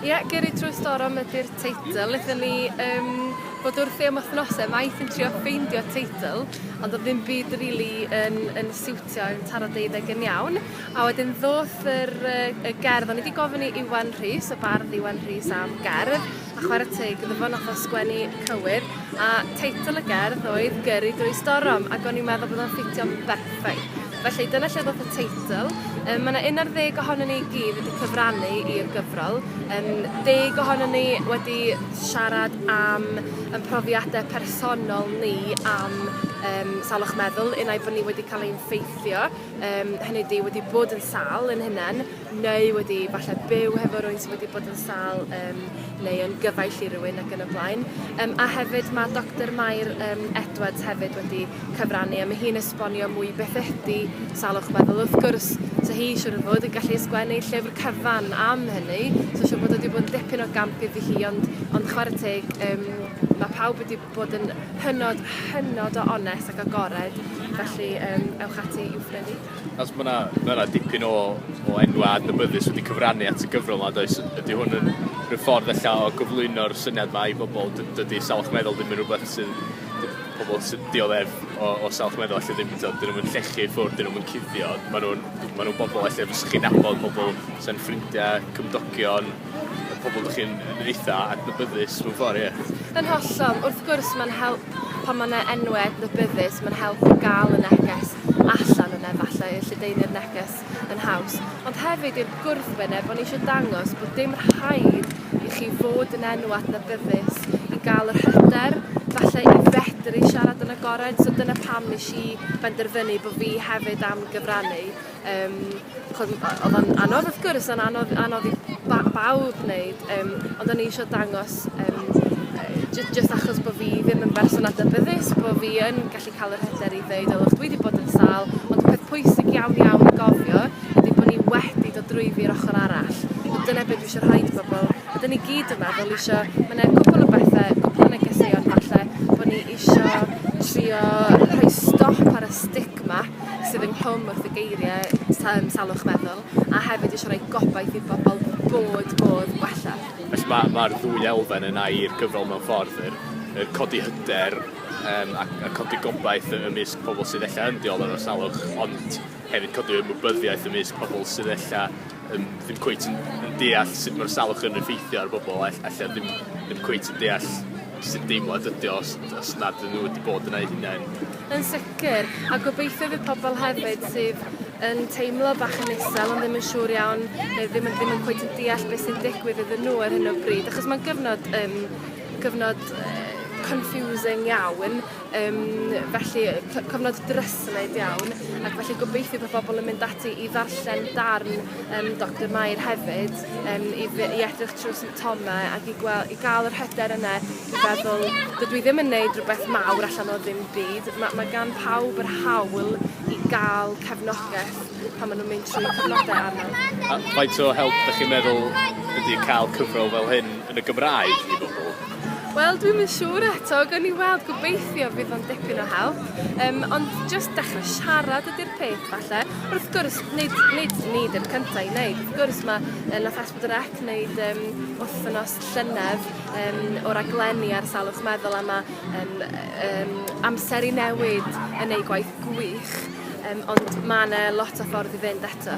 Ie, Gyrru Trwy Storom ydy'r teitl. Lethon ni um, bod wrthi am wythnosau maith yn trio ffeindio teitl, ond oedd ddim byd rili really yn, yn siwtio yn taro deuddeg yn iawn. A wedyn ddoth yr, y gerdd, o'n i wedi gofyn i Iwan Rhys, y bardd Iwan Rhys am gerdd, a chwarae teg iddo fo nath o sgwennu cywir, a teitl y gerdd oedd Gyrru drwy Storom, ac o'n i'n meddwl bod o'n ffitio berffaith. Felly, dyna lle ddoth y teitl. Yym ma' 'na un ar ddeg ohonon ni i gyd wedi cyfrannu i'r gyfrol. Yym deg ohonon ni wedi siarad am 'yn profiade personol ni am yym salwch meddwl unai bo' ni wedi ca'l ein ffeithio yym hynny ydi wedi bod yn sâl ein hunen neu wedi falle byw hefo rwy'n sydd wedi bod yn sal um, neu yn gyfaill i rywun ac yn y blaen. Um, a hefyd mae Dr Mair um, Edwards hefyd wedi cyfrannu a mae hi'n esbonio mwy beth ydy salwch meddwl. Wrth gwrs, so hi siwr o fod yn gallu ysgwennu llyfr cyfan am hynny, so siwr bod wedi bod yn dipyn o gamp iddi hi, ond, ond chwarae teg, um, mae pawb wedi bod yn hynod, hynod o onest ac agored, felly um, ewch ati i'w phrynu. Achos ma' 'na ma' 'na dipyn o o enwa' adnabyddus wedi cyfrannu at y gyfrol 'ma does? Ydi hwn yn rhyw ffordd ella o gyflwyno'r syniad 'ma i bobol dy- dydi salwch meddwl ddim yn rwbeth sydd d- pobol sy'n dioddef o o salwch meddwl alle ddim t'od 'dyn nw'm yn llechu i ffwr' 'dyn nw'm yn cuddio ma' nw'n ma' nw'n bobol elle fysach chi'n nabod pobol sa'n ffrindie, cymdogion, y pobol dych chi'n yn eitha adnabyddus mewn ffordd, ie. Yn hollol, wrth gwrs mae'n help pan mae yna enwau adnabyddus, mae'n help i gael y neges allan yn efallai y lledaenu'r neges yn haws. Ond hefyd i'r gwrthwyneb, o'n eisiau dangos bod dim rhaid i chi fod yn enw adnabyddus i gael yr hyder, falle i fedru siarad yn agored, so dyna pam nes i benderfynu bod fi hefyd am gyfrannu. Yym ch'od m- o- odd o'n anodd wrth gwrs o'n anodd anodd i ba- bawb neud yym ond o'n i isio dangos yym yy jy- jyst achos bo' fi ddim yn berson adnabyddus bo' fi yn gallu ca'l yr hyder i ddeud o look dwi 'di bod yn sâl ond y peth pwysig iawn iawn i gofio ydi bo' ni wedi dod drwyddi'r ochor arall a dyna be' dwi isio rhoi i bobol a 'dyn ni gyd yma fel isio ma' 'ne cwpwl o bethe cwpwl o negeseuon falle bo' ni isio trio rhoi stop ar y stigma sydd ynghlwm wrth y geiriau yn salwch meddwl a hefyd eisiau rhoi gobaith i bobl bod modd gwella. Felly mae mae'r ddwy elfen yn air gyfrol mewn ffordd yr, yr codi hyder um, a, a codi gobaith ymysg pobl sydd ella yn dioddef o salwch ond hefyd codi ymwybyddiaeth ymysg pobl sydd ella um, ddim cweith yn, yn deall sut mae'r salwch yn effeithio ar bobl ella ddim, ddim cweith yn deall sut deimlad ydi o os os nad ydyn nhw wedi bod yna eu hunain. Yn sicr, a gobeithio fydd pobl hefyd sydd yn teimlo bach yn isel ond ddim yn siŵr iawn neu ddim yn ddim yn cweit yn deall beth sy'n digwydd iddyn nhw ar hyn o bryd achos mae'n gyfnod um, gyfnod uh, confusing iawn, um, felly cyfnod dryslyd iawn, ac felly gobeithio bod pobl yn mynd ati i ddarllen darn um, Dr Mair hefyd, um, i, i edrych trwy Tome ac i gwel- i ga'l yr hyder yne i feddwl dydw i ddim yn neud rwbeth mawr allan o ddim byd ma' ma' gan pawb yr hawl i ga'l cefnogeth pan ma' nw'n mynd trwy cyfnode anodd. A faint o help 'dych chi'n meddwl ydi ca'l cyfrol fel hyn yn y Gymraeg i bobol? Wel dwi'm yn siŵr eto gawn ni weld gobeithio bydd o'n dipyn o help yym ond jyst dechre siarad ydi'r peth falle wrth gwrs nid nid ni 'di'r cynta i neud wrth gwrs ma' yy nath Drec wneud um, wythnos llynedd um, o raglenni ar salwch meddwl a mae um, um, amser i newid yn ei gwaith gwych, um, ond mae yna lot o ffordd i fynd eto.